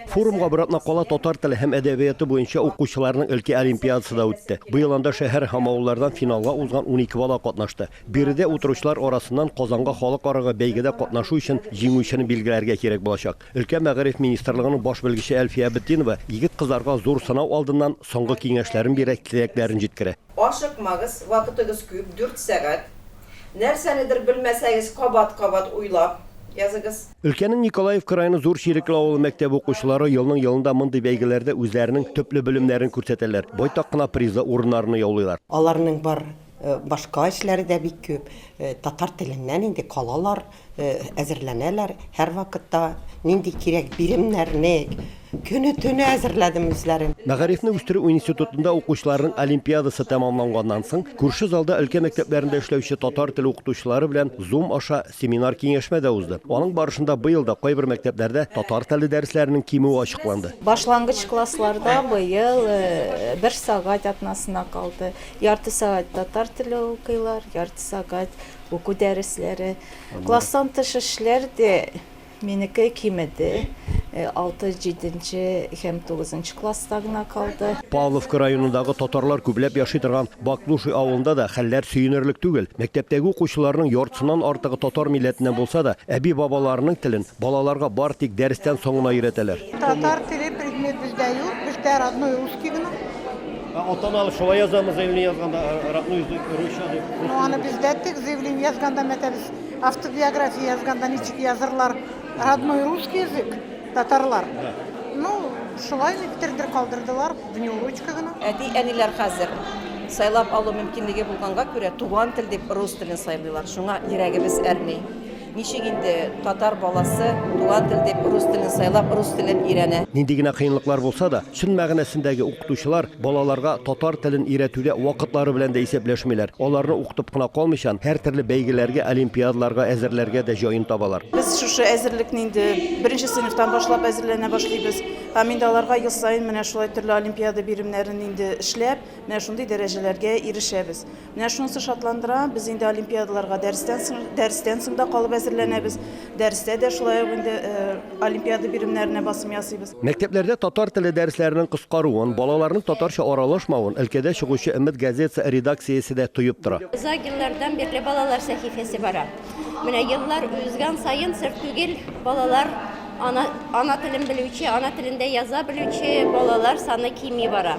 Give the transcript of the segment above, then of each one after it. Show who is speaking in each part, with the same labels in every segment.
Speaker 1: Форумга бер атна кала татар теле һәм әдәбияты буенча укучыларның өлкә олимпиадасы да үтте. Быел анда шәһәр һәм авыллардан финалга узган 12 бала катнашты. Биредә утыручылар арасыннан Казанга халыкарага бәйгедә катнашу өчен җиңүчене билгеләргә кирәк булачак. Өлкә мәгариф министрлыгының баш белгече Әлфия Абетдинова егет-кызларга зур сынау алдыннан соңгы киңәшләрен бирә, теләкләрен җиткерә. Ашыкмагыз,
Speaker 2: вакытыгыз күп, дүрт сәгать. Нәрсәнедер белмәсәгез, кабат-кабат уйлап языгыз. Өлкәнең Николаевка
Speaker 1: районы Зур Чирекле авылы мәктәбе укучылары елның-елында мондый бәйгеләрдә үзләренең төпле белемнәрен күрсәтәләр, байтак кына призлы урыннарны яулыйлар. Аларның бар
Speaker 3: башка эшләре дә бик күп. Татар теленнән инде калалар. Әзерләнәләр һәрвакытта нинди кирәк биремнәрне көне-төне әзерләдем үзләрем. Мәгарифне үстерү
Speaker 1: институтында укучыларның олимпиадасы тәмамланганнан соң, күрше залда өлкә мәктәпләрендә эшләүче татар теле укытучылары белән Zoom аша семинар-киңәшмә дә узды. Аның барышында быел да кайбер мәктәпләрдә татар теле дәресләренең кимүе ачыкланды. Башлангыч классларда
Speaker 4: быел бер сәгать атнасына калды. Ярты сәгать татар теле укыйлар, ярты сәгать Уку дәресләре, класстан тыш эшләр дә минеке кимеде. Э, алты, җиденче һәм тугызынчы класста гына калды. Павловка районындагы
Speaker 1: татарлар күпләп яши торган Баклуши авылында да хәлләр сөенерлек түгел. Мәктәптәге укучыларның яртысыннан артыгы татар милләтеннән булса да, әби-бабаларының телен балаларга бар тик дәрестән соң гына өйрәтәләр. Татар теле
Speaker 5: предмет бездә юк, бездә родной русский гына. Ә атаналар
Speaker 1: шулай язамы заявление язганда, э, родной язык, русча дип? рус Ну, аны телендә? без дә әйттек,
Speaker 5: заявление язганда, мәтәл, автобиография язганда ничек язырлар? Родной русский язык, татарлар. Да. Ну, шулай никтердер калдырдылар, внеурочка гына. Әти-әниләр хәзер
Speaker 2: сайлап алу мөмкинлеге булганга күрә туган тел дип рус телен сайлыйлар. Шуңа йөрәгебез әрни. Ничек инде татар баласы туган тел дип рус телен сайлап, рус телен өйрәнә? Нинди генә кыенлыклар
Speaker 1: булса да, чын мәгънәсендәге укытучылар балаларга татар телен өйрәтүдә вакытлары белән дә исәпләшмиләр. Аларны укытып кына калмыйчан, һәртөрле бәйгеләргә, олимпиадаларга әзерләргә дә җаен табалар. Без шушы әзерлекне
Speaker 6: инде беренче сыйныфтан башлап әзерләнә башлыйбыз. Һәм инде аларга ел саен менә шулай төрле олимпиада биремнәрен инде эшләп, менә шундый дәрәҗәләргә ирешәбез. Менә шунысы шатландыра, без инде олимпиадаларга дәрестән соң, дәрестән соң да калып әзерләнәбез. Дәрестә дә шулай ук инде олимпиада биремнәренә басым ясыйбыз. Мәктәпләрдә татар теле
Speaker 1: дәресләренең кыскаруын, балаларның татарча аралашмавын өлкәдә чыгучы Өмет газетасы редакциясе дә тоеп тора. Озак еллардан бирле
Speaker 7: балалар сәхифәсе бара. Менә еллар узган саен сер түгел, балалар ана, ана телен белүче, ана телендә яза белүче балалар саны кими бара.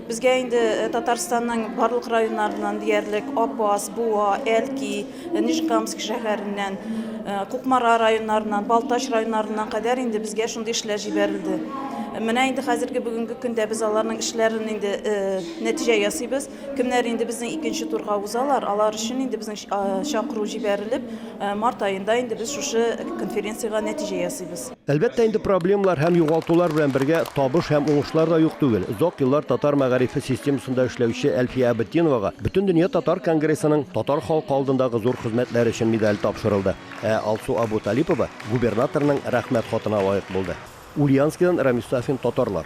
Speaker 6: Безгә инде Татарстанның барлык районнарыннан диярлек Апас, Буа, Әлки, Нижкамск шәһәреннән, Кукмара районнарыннан, Балтач районнарыннан кадәр инде безгә шундый эшләр җибәрелде. Менә инде хәзерге бүгенге көндә без аларның эшләрен инде нәтиҗә ясыйбыз. Кемнәр инде безнең икенче турга узалар, алар өчен инде безнең чакыру җибәрелеп, март аенда инде без шушы конференциягә нәтиҗә ясыйбыз. Әлбәттә инде проблемалар
Speaker 1: һәм югалтулар белән бергә табыш һәм уңышлар да юк түгел. Озак еллар татар мәгарифе системасында эшләүче Әлфия Абетдиновага Бөтендөнья татар конгрессының татар халкы алдындагы зур хезмәтләре өчен медале тапшырылды. Ә Алсу Абуталипова губернаторның Рәхмәт хатына лаек булды. Ульяновскидан Рамис Сафин, Татарлар.